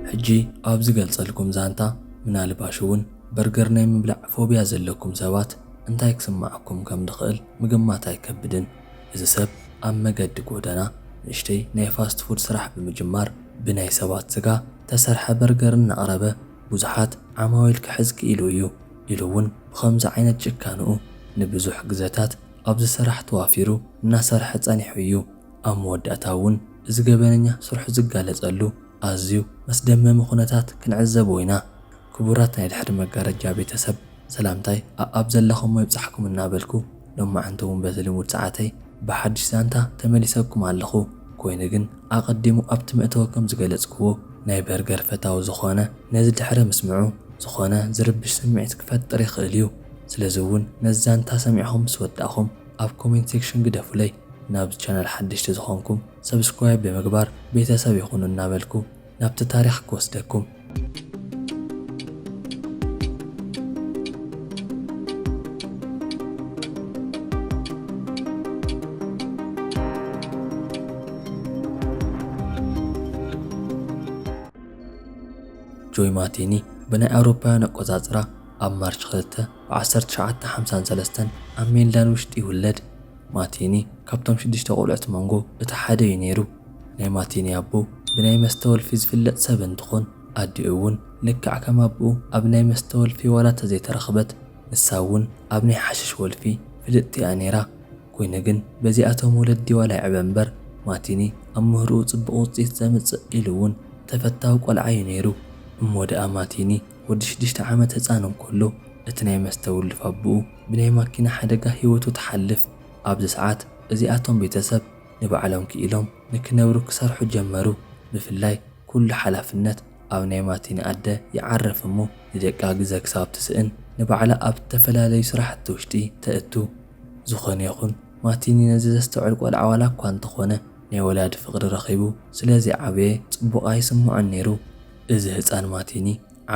ሕጂ ኣብ ዝገልጸልኩም ዛንታ ምናልባሽ'ውን በርገር ናይ ምብላዕ ፎብያ ዘለኩም ሰባት እንታይ ክስምዓኩም ከም ዝኽእል ምግማት ኣይከብድን፣ እዚ ሰብ ኣብ መገዲ ጎደና ንእሽተይ ናይ ፋስት ፉድ ስራሕ ብምጅማር ብናይ ሰባት ስጋ እተሰርሐ በርገር እናቕረበ ብዙሓት ዓማዊል ክሕዝ ክኢሉ እዩ ኢሉ'ውን ብኸምዚ ዓይነት ጭካንኡ ንብዙሕ ግዘታት ኣብዚ ስራሕ ተዋፊሩ እናሰርሐ ፀኒሑ እዩ። ኣብ መወዳእታ እውን እዚ ገበነኛ ስርሑ ዝጋለፀሉ ኣዝዩ መስደመሚ ኩነታት ክንዕዘቦ ኢና። ክቡራት ናይ ድሕሪ መጋረጃ ቤተሰብ! ሰላምታይ ኣኣብ ዘለኹሞ ይብጻሕኩም እናበልኩ ሎማዕንቲ ውን በቲ ልሙድ ሰዓተይ ብሓድሽ ዛንታ ተመሊሰኩም ኣለኹ ኮይኑ ግን ኣቐዲሙ ኣብቲ መእተዊ ከም ዝገለጽክዎ ናይ በርገር ፈታዊ ዝኾነ ነዚ ድሕሪ ምስምዑ ዝኾነ ዝርብሽ ስምዒት ክፈጥር ይኽእል እዩ ስለዚ ውን ነዚ ዛንታ ሰሚዕኹም ምስ ወዳእኹም ኣብ ኮሜንት ሴክሽን ግደፉለይ ናብዚ ቻናል ሓደሽቲ ዝኾንኩም ሰብስክራይብ ብምግባር ቤተሰብ ይኹኑ እናበልኩ ናብቲ ታሪኽ ክወስደኩም። ጆይ ማቲኒ ብናይ ኣውሮፓውያን ኣቆጻጽራ ኣብ ማርች ክልተ ብ ዓሰርተ ትሽዓተ ሓምሳን ሰለስተን ኣብ ሜልዳን ውሽጢ ይውለድ። ማቲኒ ካብቶም ሽዱሽተ ቆልዑት መንጎ እቲ ሓደ እዩ ነይሩ። ናይ ማቲኒ ኣቦ ብናይ መስተ ወልፊ ዝፍለጥ ሰብ እንትኾን ኣዲኡ እውን ልክዕ ከም ኣቡኡ ኣብ ናይ መስተ ወልፊ ዋላ ተዘይተረኽበት ንሳ እውን ኣብ ናይ ሓሽሽ ወልፊ ፍልጥቲ እያ ነይራ ኮይኑ ግን በዚኣቶም ወለዲ ዋላ ይዕበ እምበር ማቲኒ ኣብ ምህርኡ ፅቡቕ ውፅኢት ዘምፅእ ኢሉ እውን ተፈታዊ ቆልዓ እዩ ነይሩ እሞ ድኣ ማቲኒ ወዲ ሽዱሽተ ዓመት ህፃን እንከሎ እቲ ናይ መስተ ውልፍ ኣቡኡ ብናይ ማኪና ሓደጋ ሂወቱ ትሓልፍ ኣብዚ ሰዓት እዚኣቶም ቤተሰብ ንባዕሎም ክኢሎም ንክነብሩ ክሰርሑ ጀመሩ ብፍላይ ኩሉ ሓላፍነት ኣብ ናይ ማቲኒ ኣደ ይዓርፍ እሞ ንደቃ ግዘ ክሳብ ትስእን ንባዕላ ኣብ ዝተፈላለዩ ስራሕቲ ውሽጢ ተእቱ ዝኾነ ይኹን ማቲኒ ነዚ ዘስተውዕል ቆልዓ ዋላ እኳ እንተኾነ ናይ ወላዲ ፍቅሪ ረኺቡ ስለዘይዓበየ ፅቡቅ ኣይስመዖን ነይሩ እዚ ህፃን ማቲኒ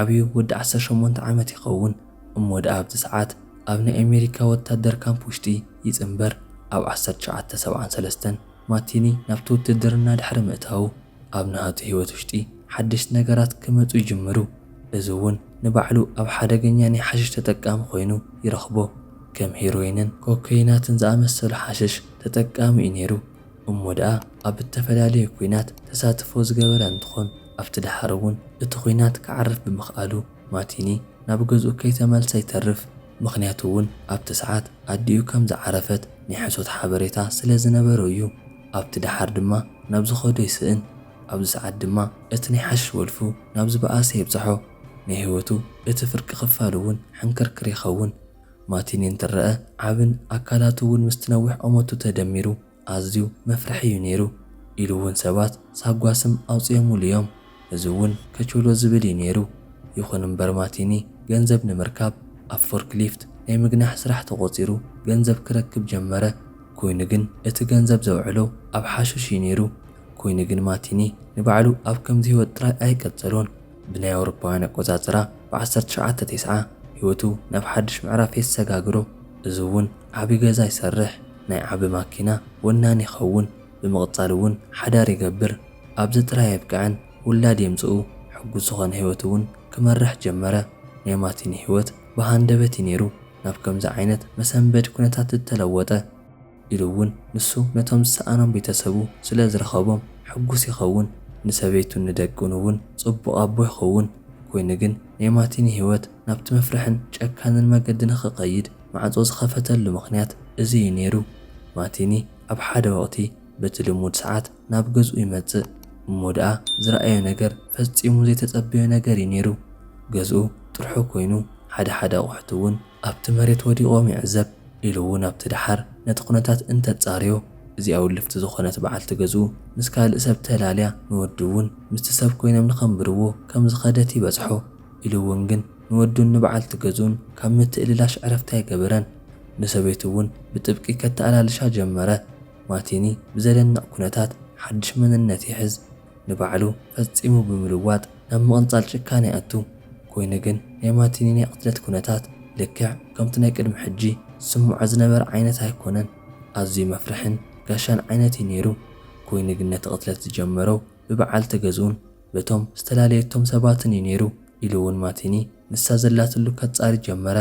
ዓብዩ ወዲ ዓሰርተ ሸሞንተ ዓመት ይኸውን እሞ ደኣ ኣብቲ ሰዓት ኣብ ናይ ኣሜሪካ ወታደር ካምፕ ውሽጢ ይጽንበር። ኣብ ዓሰርተ ትሽዓተ ሰብዓን ሰለስተን ማቲኒ ናብቲ ውትድርና ድሕሪ ምእታዉ ኣብ ናሃቱ ህይወት ውሽጢ ሓደሽቲ ነገራት ክመጹ ይጅምሩ። እዚ እውን ንባዕሉ ኣብ ሓደገኛ ናይ ሓሽሽ ተጠቃሚ ኮይኑ ይረኽቦ። ከም ሄሮይንን ኮከይናትን ዝኣመሰሉ ሓሽሽ ተጠቃሚ እዩ ነይሩ። እሞ ደኣ ኣብ እተፈላለየ ኲናት ተሳትፎ ዝገበረ እንትኾን፣ ኣብቲ ደሓር እውን እቲ ዂናት ክዓርፍ ብምኽኣሉ ማቲኒ ናብ ገዝኡ ከይተመልሰ ይተርፍ፣ ምኽንያቱ እውን ኣብቲ ሰዓት ኣዲኡ ከም ዝዓረፈት ናይ ሕሶት ሓበሬታ ስለ ዝነበሮ እዩ። ኣብቲ ደሓር ድማ ናብ ዝኸዶ ይስእን፣ ኣብዚ ሰዓት ድማ እቲ ናይ ሓሽሽ ወልፉ ናብ ዝበኣሰ የብጽሖ፣ ናይ ህይወቱ እቲ ፍርቂ ክፋል እውን ሕንክርክር ይኸውን። ማቲኒ እንትረኣ ዓብን ኣካላቱ እውን ምስቲ ነዊሕ ቖመቱ ተደሚሩ ኣዝዩ መፍርሒ እዩ ነይሩ ኢሉ እውን ሰባት ሳጓ ስም ኣውፂኦሙሉ እዮም። እዚ እውን ከቾሎ ዝብል እዩ ነይሩ። ይኹን እምበር ማቲኒ ገንዘብ ንምርካብ ኣብ ፎርክሊፍት ናይ ምግናሕ ስራሕ ተቖፂሩ ገንዘብ ክረክብ ጀመረ። ኮይኑ ግን እቲ ገንዘብ ዘውዕሎ ኣብ ሓሽሽ እዩ ነይሩ። ኮይኑ ግን ማቲኒ ንባዕሉ ኣብ ከምዚ ህይወት ጥራይ ኣይቀፀሎን። ብናይ ኣውሮፓውያን ኣቆጻጽራ ብ ዓሰርተ ትሽዓተ ቴስዓ ህይወቱ ናብ ሓድሽ ምዕራፍ የሰጋግሮ እዚ ውን ዓቢ ገዛ ይሰርሕ ናይ ዓቢ ማኪና ወናኒ ይኸውን ብምቕጻል ውን ሓዳር ይገብር ኣብዚ ጥራይ ኣየብቅዕን ውላድ የምጽኡ ሕጉስ ዝኾነ ህይወት ውን ክመርሕ ጀመረ ናይ ማቲኒ ህይወት ብሃንደበት ዩ ኔሩ ናብ ከምዚ ዓይነት መሰንበዲ ኩነታት ዝተለወጠ ኢሉ እውን ንሱ ነቶም ዝሰኣኖም ቤተሰቡ ስለ ዝረኸቦም ሕጉስ ይኸውን፣ ንሰበይቱን ንደቁን እውን ጽቡቕ ኣቦ ይኸውን። ኰይኑ ግን፣ ናይ ማቲኒ ህይወት ናብቲ መፍርሕን ጨካንን መገዲ ንኽኸይድ ማዕጾ ዝኸፈተሉ ምኽንያት እዚ እዩ ነይሩ። ማቲኒ ኣብ ሓደ ወቕቲ በቲ ልሙድ ሰዓት ናብ ገዝኡ ይመጽእ። እሞ ደኣ ዝረኣዮ ነገር ፈጺሙ ዘይተጸበዮ ነገር እዩ ነይሩ። ገዝኡ ጥርሑ ኰይኑ፣ ሓደ ሓደ ኣቑሑት እውን ኣብቲ መሬት ወዲቖም ይዕዘብ ኢሉ እውን ኣብቲ ደሓር ነቲ ኩነታት እንተጻርዮ እዚኣ ውልፍቲ ዝኾነት በዓልቲ ገዝኡ ምስ ካልእ ሰብ ተላልያ ንወዱ እውን ምስቲ ሰብ ኮይኖም ንኸንብርዎ ከም ዝኸደት ይበጽሖ ኢሉ እውን ግን ንወዱን ንበዓልቲ ገዝኡን ካብ ምትእልላሽ ዕረፍቲ ኣይገበረን ንሰበይቱ እውን ብጥብቂ ከተኣላልሻ ጀመረ ማቲኒ ብዘደንቕ ኩነታት ሓድሽ መንነት ይሕዝ ንባዕሉ ፈጺሙ ብምልዋጥ ናብ ምቕንጻል ጭካነ ይኣቱ። ኮይኑ ግን ናይ ማቲኒ ናይ ቕትለት ኩነታት ልክዕ ከምቲ ናይ ቅድሚ ሕጂ ዝስምዖ ዝነበረ ዓይነት ኣይኮነን። ኣዝዩ መፍርሕን ጋሻን ዓይነት እዩ ነይሩ። ኮይኑ ግን ነቲ ቕትለት ዝጀመሮ ብበዓልቲ ገዝኡን በቶም ዝተላለየቶም ሰባትን እዩ ነይሩ ኢሉ እውን ማቲኒ ንሳ ዘላትሉ ከጻሪ ጀመረ።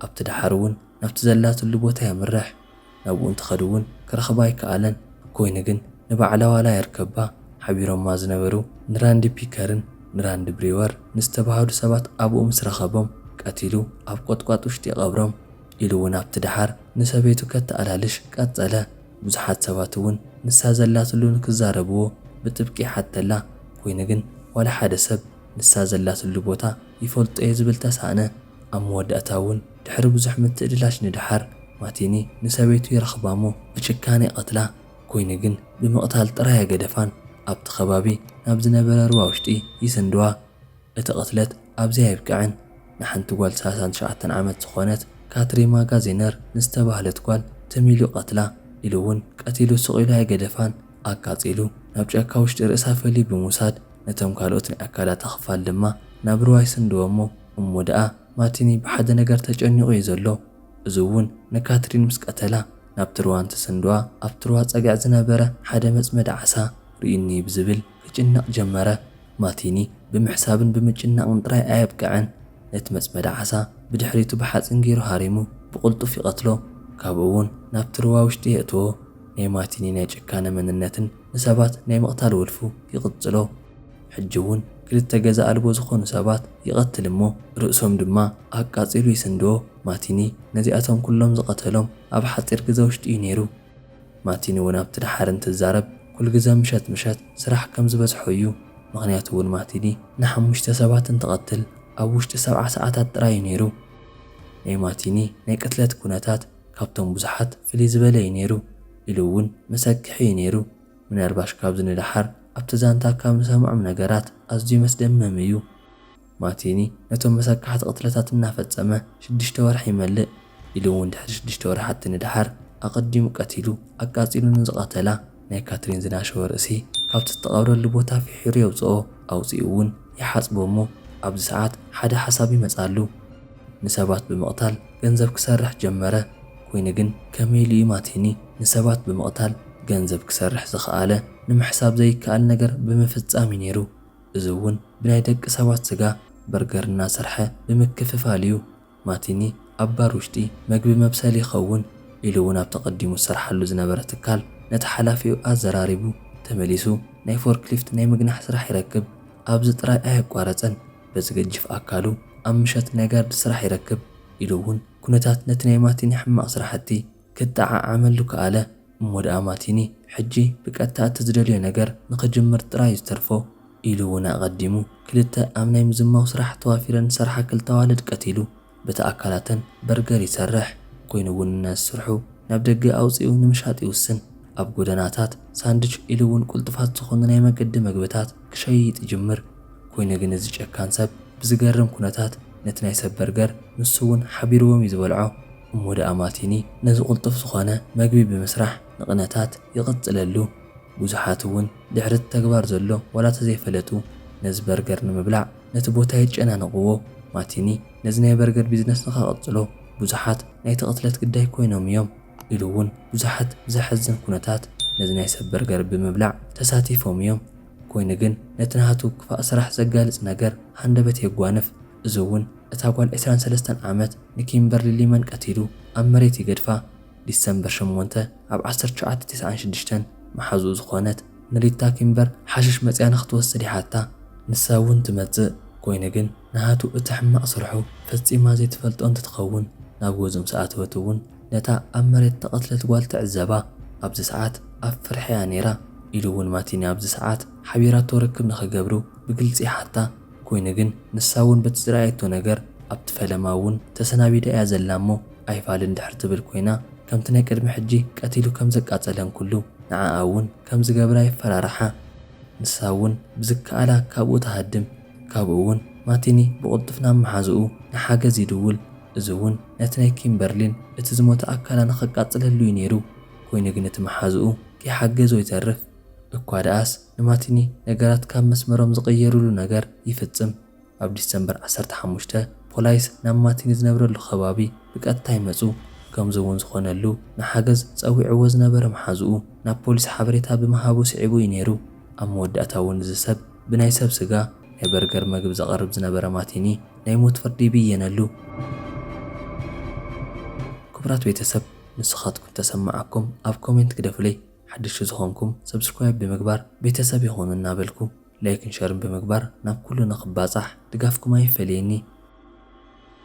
ኣብቲ ደሓር እውን ናብቲ ዘላትሉ ቦታ የምርሕ። ናብኡ እንትኸድ'ውን ክረኽባ ኣይከኣለን። ብኮይኑ ግን ንባዕላ ዋላ ይርከባ ሓቢሮማ ዝነበሩ ንራንዲ ፒከርን ንራንዲ ብሪወር ንዝተባሃሉ ሰባት ኣብኡ ምስ ረኸቦም ቀቲሉ ኣብ ቆጥቋጥ ውሽጢ ይቐብሮም ኢሉ'ውን ኣብቲ ደሓር ንሰበይቱ ከተኣላልሽ ቀጸለ። ብዙሓት ሰባት'ውን ንሳ ዘላትሉ ንክዛረብዎ ብጥብቂ ይሓተላ። ኮይኑ ግን ዋላ ሓደ ሰብ ንሳ ዘላትሉ ቦታ ይፈልጦ'የ ዝብል ተሳእነ። ኣብ መወዳእታ እውን ድሕሪ ብዙሕ ምትእልላሽ ንደሓር ማቲኒ ንሰበይቱ ይረኽባ'ሞ ብጭካነ ይቐትላ፣ ኮይኑ ግን ብምቕታል ጥራይ ኣይገደፋን ኣብቲ ከባቢ ናብ ዝነበረ ሩባ ውሽጢ ይስንድዋ። እቲ ቅትለት ኣብዚ ኣየብቅዕን ንሓንቲ ጓል ሰላሳን ትሽዓተን ዓመት ዝኾነት ካትሪ ማጋዜነር ንዝተባህለት ጓል ትም ኢሉ ይቐትላ ኢሉ እውን ቀቲሉ ስቕ ኢሉ ኣይገደፋን ኣቃጺሉ ናብ ጫካ ውሽጢ ርእሳ ፈልዩ ብምውሳድ ነቶም ካልኦት ናይ ኣካላታ ክፋል ድማ ናብ ሩባ ይስንድዎ'ሞ እሞ ደኣ ማቲኒ ብሓደ ነገር ተጨኒቑ እዩ ዘሎ፣ እዚ እውን ንካትሪን ምስ ቀተላ ናብ ትርዋ እንትስንድዋ ኣብ ትርዋ ጸግዒ ዝነበረ ሓደ መጽመዲ ዓሳ ርእዩኒ ብዝብል ክጭነቕ ጀመረ። ማቲኒ ብምሕሳብን ብምጭናቕን ጥራይ ኣየብቀዐን፣ ነቲ መጽመዲ ዓሳ ብድሕሪቱ ብሓጺን ገይሩ ሃሪሙ ብቕልጡፍ ይቐትሎ፣ ካብኡ እውን ናብ ትርዋ ውሽጢ የእትዎ። ናይ ማቲኒ ናይ ጭካነ መንነትን ንሰባት ናይ ምቕታል ውልፉ ይቕጽሎ። ሕጂ እውን ክልተ ገዛ ኣልቦ ዝኾኑ ሰባት ይቐትል እሞ ርእሶም ድማ ኣቃጺሉ ይስንድዎ። ማቲኒ ነዚኣቶም ኩሎም ዝቐተሎም ኣብ ሓጺር ግዘ ውሽጢ እዩ ነይሩ። ማቲኒ እውን ኣብቲ ደሓር እንትዛረብ ኩልግዘ ምሸት ምሸት ስራሕ ከም ዝበዝሖ እዩ። ምኽንያቱ እውን ማቲኒ ንሓሙሽተ ሰባት እንትቐትል ኣብ ውሽጢ ሰብዓ ሰዓታት ጥራይ እዩ ነይሩ። ናይ ማቲኒ ናይ ቅትለት ኩነታት ካብቶም ብዙሓት ፍልይ ዝበለ እዩ ነይሩ ኢሉ እውን መሰክሒ እዩ ነይሩ። ምናልባሽ ካብዚ ንደሓር ኣብቲ ዛንታ ካብ ንሰምዖም ነገራት ኣዝዩ መስደመም እዩ። ማቲኒ ነቶም መሰካሕቲ ቅትለታት እናፈጸመ ሽዱሽተ ወርሒ ይመልእ ኢሉ እውን ድሕሪ ሽዱሽተ ወርሓቲ ንደሓር ኣቐዲሙ ቀቲሉ ኣቃጺሉ ንዝቐተላ ናይ ካትሪን ዝናሸወ ርእሲ ካብቲ ዝተቐብረሉ ቦታ ፊሒሩ የውጽኦ ኣውጺኡ እውን ይሓጽቦ እሞ ኣብዚ ሰዓት ሓደ ሓሳብ ይመጽኣሉ ንሰባት ብምቕታል ገንዘብ ክሰርሕ ጀመረ። ኮይኑ ግን ከመይ ኢሉ እዩ ማቲኒ ንሰባት ብምቕታል ገንዘብ ክሰርሕ ዝኸኣለ? ንምሕሳብ ዘይከኣል ነገር ብምፍጻም እዩ ነይሩ። እዚ እውን ብናይ ደቂ ሰባት ስጋ በርገር እናሰርሐ ብምክፍፋል እዩ። ማቲኒ ኣብ ባር ውሽጢ መግቢ መብሰሊ ይኸውን ኢሉ እውን ኣብቲ ቀዲሙ ዝሰርሓሉ ዝነበረ ትካል ነቲ ሓላፊኡ ኣዘራሪቡ ተመሊሱ ናይ ፎርክሊፍት ናይ ምግናሕ ስራሕ ይረክብ። ኣብዚ ጥራይ ኣየቋረጸን። በዚ ገጅፍ ኣካሉ ኣብ ምሸት ናይ ጋርድ ስራሕ ይረክብ ኢሉ እውን ኩነታት ነቲ ናይ ማቲኒ ሕማቕ ስራሕቲ ከጠዓዓመሉ ከኣለ። እሞ ደኣ ማቲኒ ሕጂ ብቀጥታ እቲ ዝደልዮ ነገር ንኽጅምር ጥራይ እዩ ዝተርፎ ኢሉ እውን ኣቐዲሙ ክልተ ኣብ ናይ ምዝማው ስራሕ ተዋፊረን ዝሰርሓ ክልተ ኣዋልድ ቀቲሉ። በቲ ኣካላተን በርገር ይሰርሕ፣ ኮይኑ እውን ንስርሑ ናብ ደገ ኣውጺኡ ንምሻጥ ይውስን። ኣብ ጎደናታት ሳንድች ኢሉ እውን ቁልጡፋት ዝኾኑ ናይ መገዲ መግብታት ክሸይጥ ይጅምር። ኮይኑ ግን እዚ ጨካን ሰብ ብዝገርም ኩነታት ነቲ ናይ ሰብ በርገር ንሱ እውን ሓቢርዎም እዩ ዝበልዖ። እሞ ደኣ ማቲኒ ነዚ ቁልጡፍ ዝኾነ መግቢ ብምስራሕ ንቕነታት ይቕጽለሉ። ብዙሓት እውን ድሕሪ እቲ ተግባር ዘሎ ዋላ ተዘይፈለጡ ነዚ በርገር ንምብላዕ። ነቲ ቦታ የጨናንቕዎ። ማቲኒ ነዚ ናይ በርገር ቢዝነስኻ ቀጽሎ፣ ብዙሓት ናይቲ ቅትለት ግዳይ ኰይኖም እዮም ኢሉ እውን ብዙሓት ብዘሕዝን ኵነታት ነዚ ናይ ሰብ በርገር ብምብላዕ ተሳቲፎም እዮም። ኰይኑ ግን ነቲ ናቱ ክፋእ ስራሕ ዘጋልጽ ነገር ሃንደበት የጓንፍ። እዚ እውን እታ ጓል ዕስራን ሰለስተን ዓመት ንኪምበርሊ ሊመን ቀቲሉ ኣብ መሬት ይገድፋ። ዲሰምበር ሸሞንተ ኣብ ዓሰርተ ትሽዓተ ተስዓን ሽዱሽተን መሓዝኡ ዝኾነት ንሪታ ኪምበር ሓሽሽ መጺኣ ንኽትወስድ ይሓታ። ንሳ እውን ትመጽእ፣ ኮይኑ ግን ንሃቱ እቲ ሕማቕ ስርሑ ፈጺማ ዘይትፈልጦ እንትትኸውን፣ ናብ ገዝኡ ምስ ኣተወት እውን ነታ ኣብ መሬት እተቐትለት ጓል ትዕዘባ። ኣብዚ ሰዓት ኣብ ፍርሒ እያ ነይራ፣ ኢሉ እውን ማቲኒ ኣብዚ ሰዓት ሓቢራቶ ርክብ ንኽገብሩ ብግልጺ ይሓታ። ኮይኑ ግን ንሳ ውን በቲ ዝረኣየቶ ነገር ኣብቲ ፈለማ ውን ተሰናቢዳ እያ ዘላ እሞ ኣይፋል እንድሕር ትብል ኮይና ከምቲ ናይ ቅድሚ ሕጂ ቀቲሉ ከም ዘቃጸለን ኩሉ ንዓኣ ውን ከም ዝገብራ የፈራርሓ ንሳ ውን ብዝከኣላ ካብኡ ትሃድም ካብኡ ውን ማቲኒ ብቕልጡፍ ናብ መሓዝኡ ንሓገዝ ይድውል እዚ ውን ነቲ ናይ ኪምበርሊን እቲ ዝሞተ ኣካላ ንኸቃጽለሉ እዩ ኔሩ ኮይኑ ግን እቲ መሓዝኡ ከይሓገዞ ይተርፍ እኳ ደኣስ ንማቲኒ ነገራት ካብ መስመሮም ዝቕየሩሉ ነገር ይፍጽም። ኣብ ዲሰምበር ዓሰርተ ሓሙሽተ፣ ፖላይስ ናብ ማቲኒ ዝነብረሉ ከባቢ ብቀጥታ ይመጹ፣ ከምዚ እውን ዝኾነሉ ንሓገዝ ጸዊዕዎ ዝነበረ መሓዝኡ ናብ ፖሊስ ሓበሬታ ብምሃቡ ስዒቡ እዩ ነይሩ። ኣብ መወዳእታ እውን እዚ ሰብ ብናይ ሰብ ስጋ ናይ በርገር መግቢ ዘቕርብ ዝነበረ ማቲኒ ናይ ሞት ፍርዲ ይብየነሉ። ክቡራት ቤተሰብ ንስኻትኩም ተሰማዓኩም ኣብ ኮሜንት ግደፉለይ። ሓደሽቲ ዝኾንኩም subscribe ብምግባር ቤተሰብ ይኹኑ እናበልኩ ላይክን ሸርን ብምግባር ናብ ኩሉ ንኽባፃሕ ድጋፍኩም ኣይፈለየኒ።